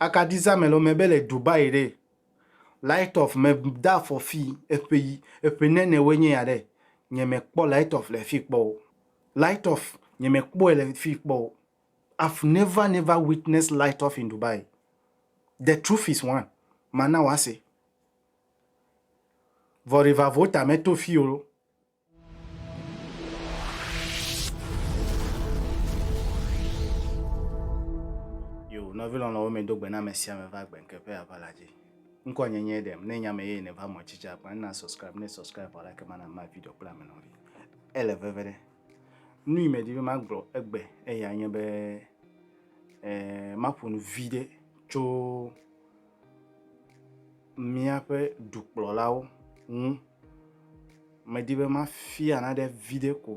Akaɖi zãme le eme be le Dubai ɖe, light of me de afɔ fii, eƒe yi, eƒe nɛnɛ woe nye ya ɖe, nye me kpɔ light of le fii kpɔ o. Light of, nye me kpɔɛ le fii kpɔ o. I've never never witness light of in Dubai. The truth is one, ma na wɔ ase. Vɔ rivavɔ ta me to fii o. nɔvi lɔlɔ̃wo mi do gbe na ame sia ame va gbe nkeƒe ava la dzi ŋkɔ nye nye ɖem ne nya me ye ne va mɔ tsitsi akpa na subscribe ne subscribe wala ke mana ma video kple ame nɔvi ele veve ɖe nu yi me di be ma gblɔ egbe eya nye be eh, ma ƒo nu vi ɖe tso míaƒe dukplɔlawo ŋu. Medi be mafia naɖe viɖe ko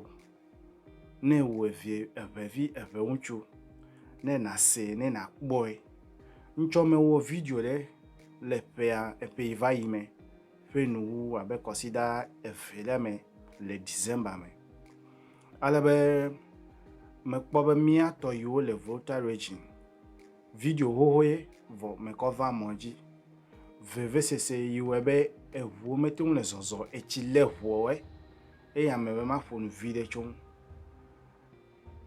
ne wò evie, eŋɛvi, eŋɛŋutsu ne nàsee ne nàkpɔe. Ŋtsɔ mewɔ video ɖe le ƒea, eƒe yi va yi me ƒe nuwuwu abe kɔsida eve ɖe me le December me. Ale be mekpɔ be míatɔ yiwo le Volta Region Video xoxoe vɔ mekɔ va mɔ dji. Vevesese yi wɔe be eʋuwo mete ŋu le zɔzɔ etsi le ʋuɔwɔe eye ame be ma ƒonu viɖe tso ŋu.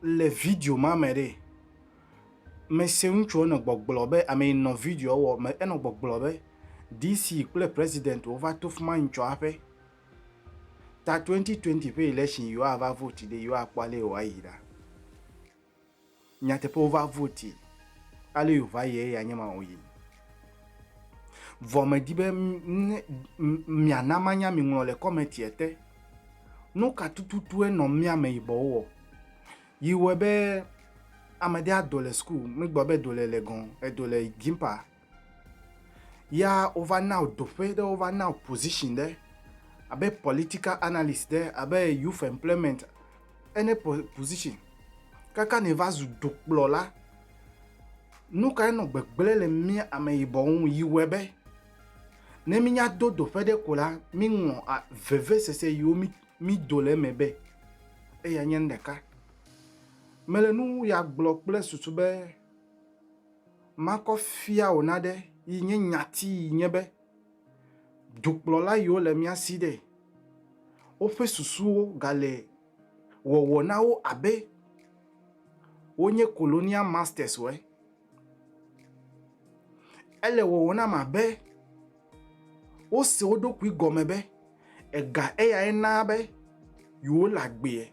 Le video ma me ɖee, me se ŋutsuɔ nɔ gbɔgblɔ be, ame yi nɔ videoa wɔ me enɔ gbɔgblɔ be DC kple President wo va to fima ŋtsɔ aƒe ta 2020 ƒe election yi woa va vote ɖe yi woa kpɔ ale yi woa yi ɖa. nyateƒe wova voti ale yo va ye ya nye ma o yi vɔ me di be mia na ma nya mi ŋlɔ le kɔmɛti ete nu ka tututu enɔ mia me yibɔ wɔ yi wɔ be amede ado le school mi gbɔ be do le le gan edo le gimpa Ya wova na wò doƒe ɖe, wova na wò position ɖe, abe political analyst ɖe, abe youth employment, any position. Kaka nèva zu dukplɔla, nu kae nɔ gbegblẽ le mía ameyibɔwo ŋu yi wɔe be ne mínya do doƒe ɖe ko la, míŋlɔ vevesese yiwo mído le eme be eya nye nu ɖeka. Mele nu ya gblɔ kple susu be. Makɔ fia wò naɖe yi nye nyati yi nye be, dukplɔla yiwo le mía si ɖe, woƒe susuwo gale wɔwɔ na wo abe wonye colonial masters ue. Ele wɔwɔ nam abe wose wo ɖokui gɔme be, ega eyae naa be yewole agbee.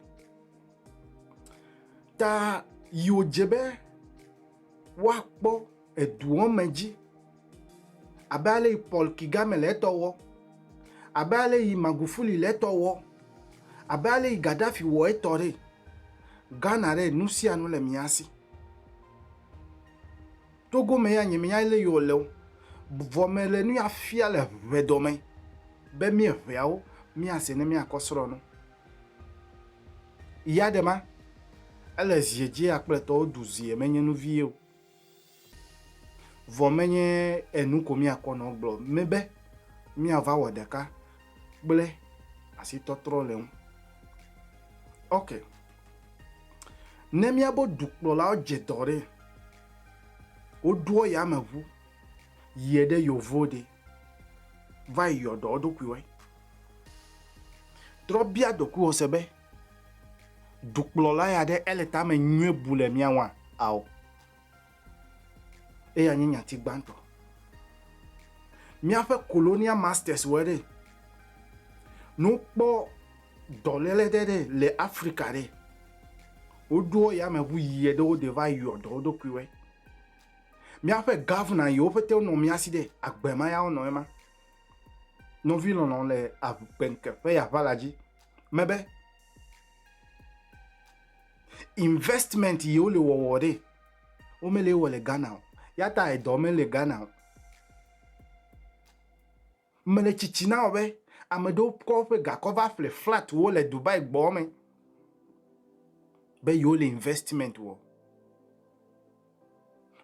Ta yi wòdze be woakpɔ eduɔ me dzi abe ale yi Paul Kagame le etɔ wɔ, abe ale yi Magufuli le etɔ wɔ, abe ale yi Gaddafi wɔ etɔ ɖe. Ghana ɖe nu sia nu le mía si. Togo me ya nye menya ale yi wòle o. Vɔ mele nu ya fia le ʋedɔ me be míeʋeawo míase ne míakɔ srɔ̃ nu. Ya ɖe ma, ele zie dzi akple tɔwo du zie menye nu vie o. Vɔ menye enu ko míakɔ nɔ gblɔ mɛ be míava wɔ ɖeka kple asitɔtrɔ le ŋu. Ok. Ne míabo dukplɔlawo dze dɔ ɖe, woɖoɔ yameʋu yie ɖe yovo ɖe. va yi yɔ dɔ wo ɖokuiwoe. Trɔ bia ɖokuiwò se be, Dukplɔla ya ɖe ele tame nyuie bu le mía ŋua? Ao. Eya nye nyati gbãtɔ. Míaƒe colonial masters wɔe ɖe. Ne wokpɔ dɔléle ɖe ɖe le Afrika ɖe, woɖoa yameʋu yia ɖe wo ɖe va yɔ dɔ wo ɖokuiwoe. Míaƒe Gɔvina yiwo ƒete wonɔ mía si ɖe agbe ma ya wonɔ ema. Nɔvi lɔlɔ̃ le agbeŋke ƒe aʋala dzi mebe investment yiwo le wɔwɔ ɖe womele wɔ le Ghana o. Yata edɔ mele Ghana o. Mele tsitsi na wò be ame ɖewo kɔ woƒe gakɔ va ƒle flat wo le Dubai gbɔ me be yewo le investment wɔ.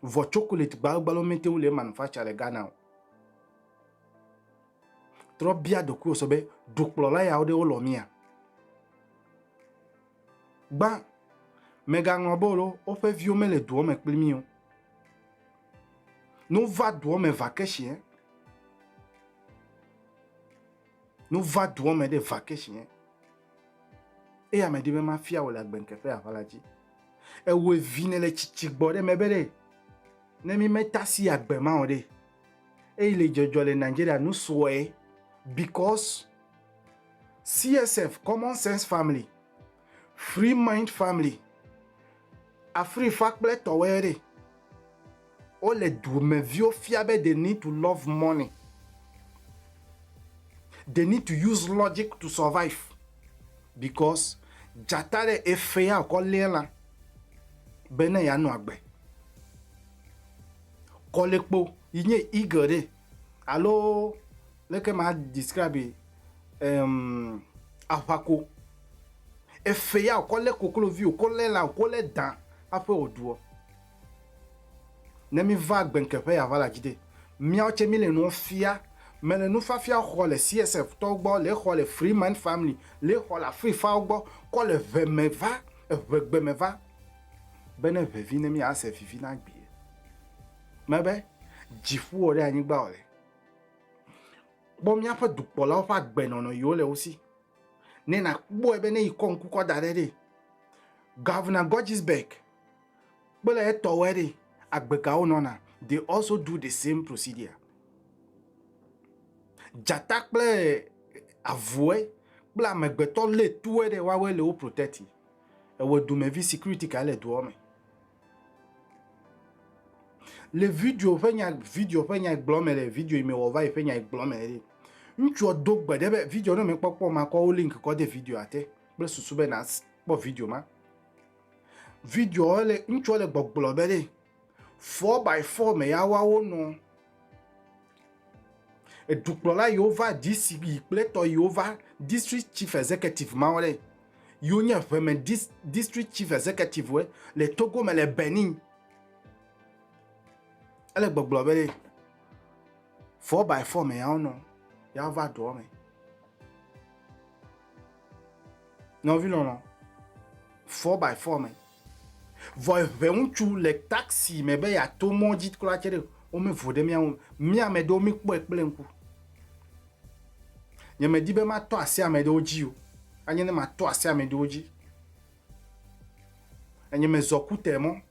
Vɔ chocolate gbalogbalo mete ŋu le manufacture le Ghana o. Trɔ bia ɖokuiwò se be dukplɔla yawo ɖe wolɔ mía? Gbã, mègaŋlɔ be alo woƒe viwo mele doɔ me kpli mí o. Ne wova doɔ me vakɛshiɛ, ne wova doɔ me ɖe vakɛshiɛ, eya medi be mafia wò le agbenke ƒe aʋala dzi. Ewɔe vi ne le tsitsi gbɔ ɖe mebe ɖe, ne mí metasi agbe ma o ɖe, eyi le dzɔdzɔ le Nigeria nu sɔe because CSF, Common Sense Family, Free Mind Family, Afrifa kple tɔwɔe ɖe. Wole dumeviwo fia be they need to love money. They need to use logic to survive because dzata ɖe efea wòkɔ léa lã be ne yeanɔ agbe. Kɔlekpo yi nye eagle ɖe alo leke ma describe um, ahwako efe ya wòkɔ lé koklovi wòkɔ lé la wòkɔ lé dan aƒe wòɖuɔ ne mi va gbenkeƒe ya va la dzi de miawo tse mi le nuwo fia me le nufiafia xɔ le csf tɔwo gbɔ le xɔ le freeman family le xɔ le afrifawo gbɔ kɔ le ʋe me va eʋegbe me va be ne ʋevi ne mi ase vivi na gbie mebe dziƒo ɖe anyigba wòle Kpɔ míaƒe dukplɔlawo ƒe agbenɔnɔ yi wole wo si. Ne nàkpɔe be ne yi kɔ ŋku kɔ da ɖe ɖe, Governor Gordgesberg kple etɔwoe ɖe agbegawo nɔna. They also do the same procedure. Dzata kple avue kple amegbetɔ lé tue ɖe woawoe le wo protect. Ewe dumevi security kae le dua me? Le video ƒe nya video ƒe nya gblɔ me le video yi me wɔ va yi ƒe nya gblɔ me le. Ŋutsua do gbe ɖe be video ɖe me kpɔkpɔ ma kɔ wo link kɔ de video ate kple susu be na kpɔ video ma. Video le ŋutsua le gbɔgblɔ be le four by four me ya wa wo nɔ. Edukplɔla yiwo va DC yi kple tɔ yiwo va District Chief Executive mawo ɖe yiwo nye ʋeme dis, District Chief Executive we le Togo me le Benin. Ele gbɔgblɔ be ɖe four by four me yawo nɔ yawo va dɔa me. Nɔvi lɔlɔ four by four me. Vɔ eʋe ŋutsu le taxi me be yeato mɔ dzi kura tse ɖe, womevo ɖe mía ŋu. Mía ame ɖewo mekpɔe kple ŋku. Nyemedi be matɔ asi ame ɖewo dzi o. Anye ne matɔ asi ame ɖewo dzi. Enye mezɔ Kute mɔ,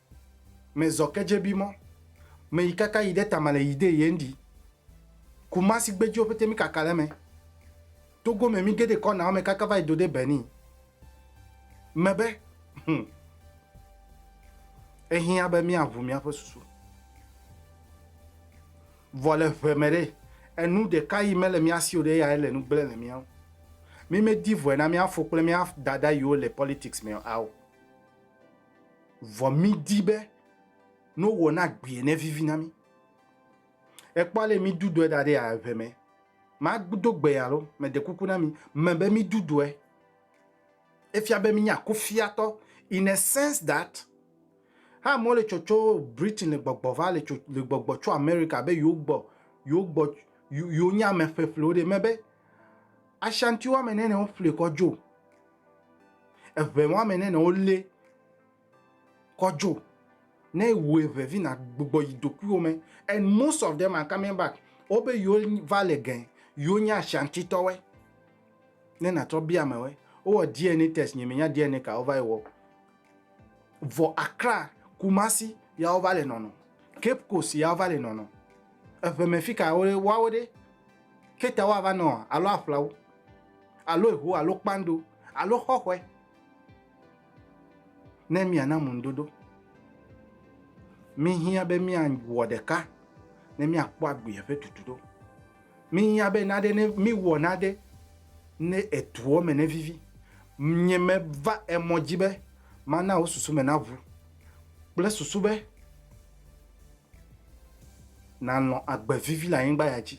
mezɔ Kedjebi mɔ, meyi kaka yi ɖe Tamale yi ɖe Yendi. Kumasi gbedziwo ƒete mikaka ɖe eme. Togo me mi gede kɔna ɔme kaka va yi do de Benin me be hum ehiã be mia ʋu mia ƒe susu. Vɔ le ʋe me ɖe enu ɖeka yi me le mia si o ɖe eyae le nu gble le mia ŋu. Mi me di vɔe na mia fo kple mia dada yiwo le politics me ao. Vɔ mi di be no wɔ na gbie ne vivi na mi. Ekpɔ ale mi du dɔe da ɖe ya ʋe me. Ma do gbe ya lo, me de kuku na mi, me be mi du dɔe. Efia be mi nya kufia tɔ in a sense that ha mo le tsɔ tsɔ Britain le gbɔgbɔ va le tsɔ le gbɔgbɔ tsɔ America be yo gbɔ yo gbɔ yo nya me ƒe ƒle wo de me be Ashanti wa me ne ne wo ƒle kɔ jo. Eʋe wa me ne ne wo le Kɔdzo. Ne ewɔe ʋe vi na gbugbɔ yi dokuiwo me and most of them are coming back wo be yewo va le ge yewo nye Ashanti tɔwoe. Ne na trɔ bia amewoe wo wɔ DNA test nye me nya DNA ka wo va yi wɔ o. Vɔ Accra, Kumasi ya wo va le nɔnɔ. Cape Coast ya wo va le nɔnɔ. Eʋe me fi ka wo wa wo ɖe? Cape Town wa va nɔ alo aƒlawu alo eho alo kpando alo xɔxɔe. Ne miana ŋuɖoɖo, mihiã be miawɔ ɖeka ne miakpɔ agbeea ƒe tutu ɖo. Mihiã be naɖe ne miwɔ naɖe ne etuɔ me ne vivi. Nye meva emɔ dzi be mana wò susu me naʋu kple susu be nàlɔ̃ agbe vivi le anyigba ya dzi.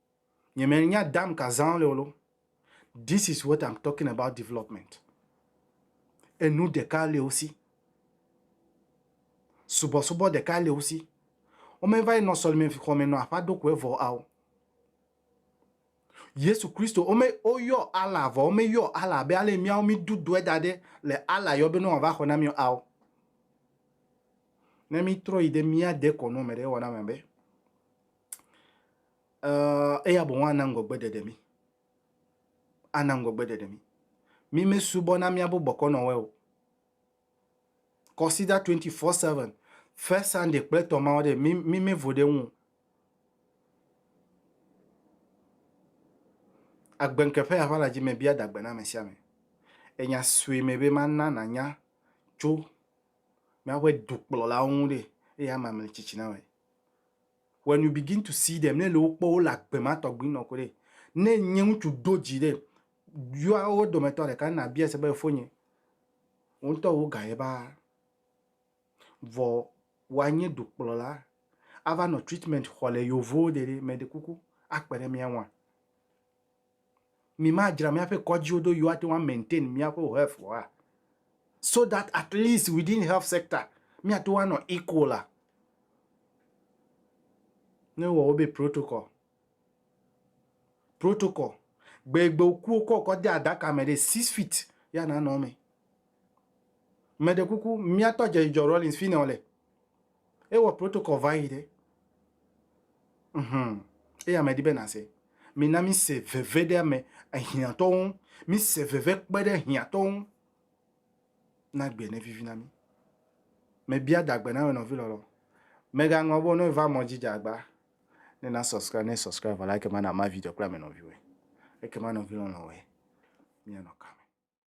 Nye me nya dam ka zan le olo. This is what I'm talking about development. Enu ɖeka le wo si. Subɔsubɔ ɖeka le wo si. Wo me va yi nɔ sɔlime xɔ me nɔ aƒa ɖokoe vɔ ao. Yesu Kristo, wo me wo yɔ Allah vɔ wo me yɔ Allah be ale miawo mi du dɔe da ɖe le Allah yɔ be ne wa va xɔ na mi ao. Ne mi trɔ yi de mia de kɔ nɔ me ɖe wɔna me be Ɛɛ, eya boŋ ana ŋgɔgbeɖeɖe mí. Ana ŋgɔgbeɖeɖe mí. Mí mesubɔna míaƒe bɔkɔnɔwoe o. Consider 24/7, first Sunday kple etɔ̃ mawo ɖe, mí, mí mevo ɖe eŋu o. Agbeŋkeƒe ya ƒe aladzime me bia dagbe na ame sia ame. Le nya sue me be mana nànya tso míaƒe dukplɔlawo ŋu ɖe, eya amea mele tsitsi na wɔe. When you begin to see them, ne le wo kpɔ, wole agbe ma tɔgbi nɔ koɖe. Ne nye ŋutsu do dzi ɖe, yɔa wo dometɔ ɖeka ne na bia se be efonye. Wo ŋutɔ wo ga ye ba. Vɔ wa nye dukplɔla ava nɔ treatment xɔ le yovowo ɖe ɖe mɛ ɖe kuku akpe ɖe mia ŋua. mi ma dzra mia ƒe kɔdziwo do you ate ŋu a maintain mia ƒe health wa? So that at least within health sector mia te ŋu a nɔ equal a? Ne wo wɔ wo be protocol, protocol, gbe yi gbe wo ku wo kɔ kɔ de aɖaka me ɖe six feet ye a na nɔ eme. Meɖe kuku mia tɔ dze yi dzɔ Rawlings fi yi ne wo le. Ewɔ protocol va yi ɖe. Mhum. Eya medi be nase. Mina mise veve ɖe ame ehiãtɔwo ŋu. Mise veve kpe ɖe ehiãtɔwo ŋu. Na gbe ne vivi na mi. Mebia dagbe na wò nɔvi lɔlɔ. Mega ŋlɔ be wò nɔvi va mɔ dzi dze agba. Ne na subscribe ne subscribe vɔ la ekema na ma video kple ame nɔviwɔe. Ekema nɔvi lɔlɔwɔe. Mia nɔ kame.